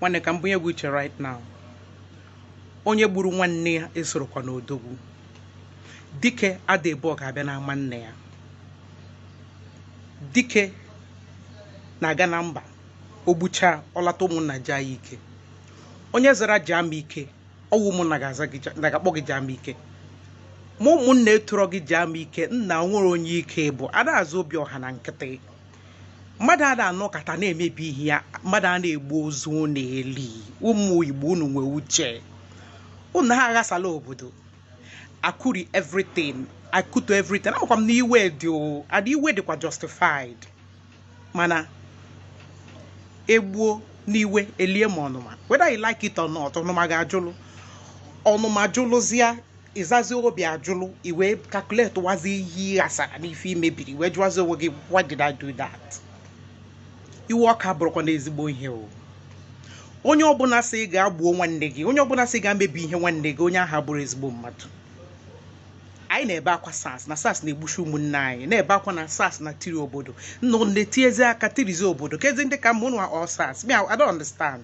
nwanne ka m bunye gị uche right now onye gburu nwanne ya esorokwa n'odogwu dike ada ebu ọgụ abịa n'ama nne ya dike na-aga na mba o gbuchaa ọ lata ụmụnna jaa ya ike onye zara jamike ọ wụ ụmụnna ga-aza gị ja- na ga-akpọ gị jamike ma ụmụnna etoro gị jamike nna nwere onye ike bụ a na-aza obiọha na nkịtị mmadụ a na-anọkata na-emebi ihe ya mmadụ a na-egbu ozu ọ na-eli ụmụ igbo unu nwee uche unu ha aghasala obodo akụrie everything akụtuo everything amakwa m na iwe dị o ada iwe dịkwa justified mana egbuo n'iwe elie ma ọnụma whether you like it or not ọnụma ga-ajụlụ ọnụma jụlụzịa ị zazi obiajụlụ ị wee calculate wazi ihe ị ghasara na ife i mebiri ị wee jụwazi onwe gị why did I do that iwe ọkụ abụrọkwanụ ezigbo ihe o onye ọbụla sị ị gaa gbuo nwanne gị onye ọbụla sị ị gaa mebie ihe nwanne gị onye ahụ abụrọ ezigbo mmadụ anyị na-ebe akwa sars na sars na-egbusi ụmụnne anyị na-ebe akwa na sars na-etiri obodo nna na-etiezi aka tirizi obodo kezi ndị ka mma ụnụ or sars me I don't understand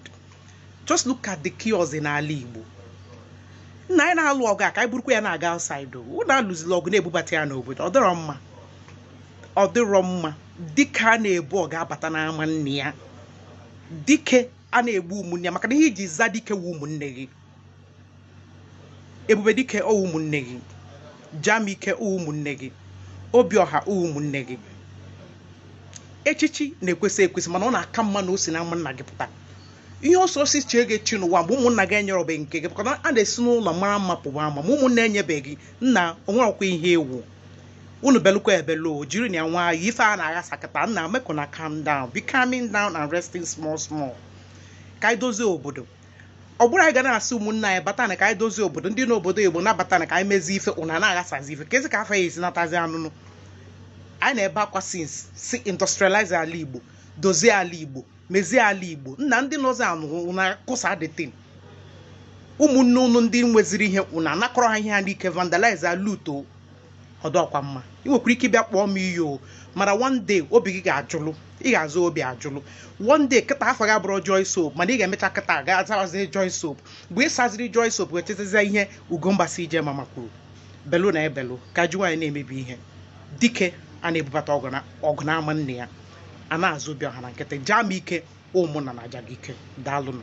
just look at the chaos in ala Igbo nna anyị na-alụ ọgụ a ka anyị burukwa ya na-aga outside ụna alụzila ọgụ na-ebubata ya n'obodo ọ dịrọ mma ọ dịrọ mma dike a na-ebu ọgụ abata n'ama nne ya dike a na-egbu ụmụnne ya maka na ihe i ji aza dike wụ ụmụnne gị ebube dike ọ wụ ụmụnne gị jamike ọ wụ ụmụnne gị obiọha ọ wụ ụmụnne gị echichi na-ekwesị ekwesị mana ọ na-aka mma na o si na ụmụnna gị pụta ihe ọsọ ọsọ iche gị chi n'ụwa mgbe ụmụnna gị enyerobe nke gị maka na a na-esi n'ụlọ mara mma pụwa ama ma ụmụnna enyebeghị nna o nwerọkwa ihe ị wụ unu belukwa ebelu jiri na ya nwayọ ife a na-aghasakata nna make una calm down be calming down and resting small small ka anyị dozie obodo ọ bụrụ anyị ga na-asị ụmụnna anyị batana ka anyị dozie obodo ndị n'obodo igbo nabatana ka anyị mezie ife ụna na-aghasazi ife kezi ka fa ya-esi natazi anụnụ anyị na-ebe akwa since sị industrialize ala igbo dozie ala igbo mezie ala igbo nna ndị nọzi anụ ụna kụsa the thing ụmụnne ụnụ ndị nweziri ihe ụna anakọrọ ha ihe ha n'ike vandalize alootuo ọ dịrọkwa mma ị nwekwara ike ịbịa kpọọ m iyi o mana one day obi gị ga-ajụlụ ị ga-aza obiajụlụ one day kịta afa gị abụrọ joy soap mana ị ga-emecha kịta ga-azawazi joy soap mgbe ị saziri joy soap wee chetezie ihe ugomba cj mama kwuru belu na ebelu ka ji nwayọ na-emebi ihe dike a na-ebubata ọgụ na- ọgụ n'ama nne ya a na-aza obiọha na nkịtị jamike ụmụnna na-aja gị ike daalụnụ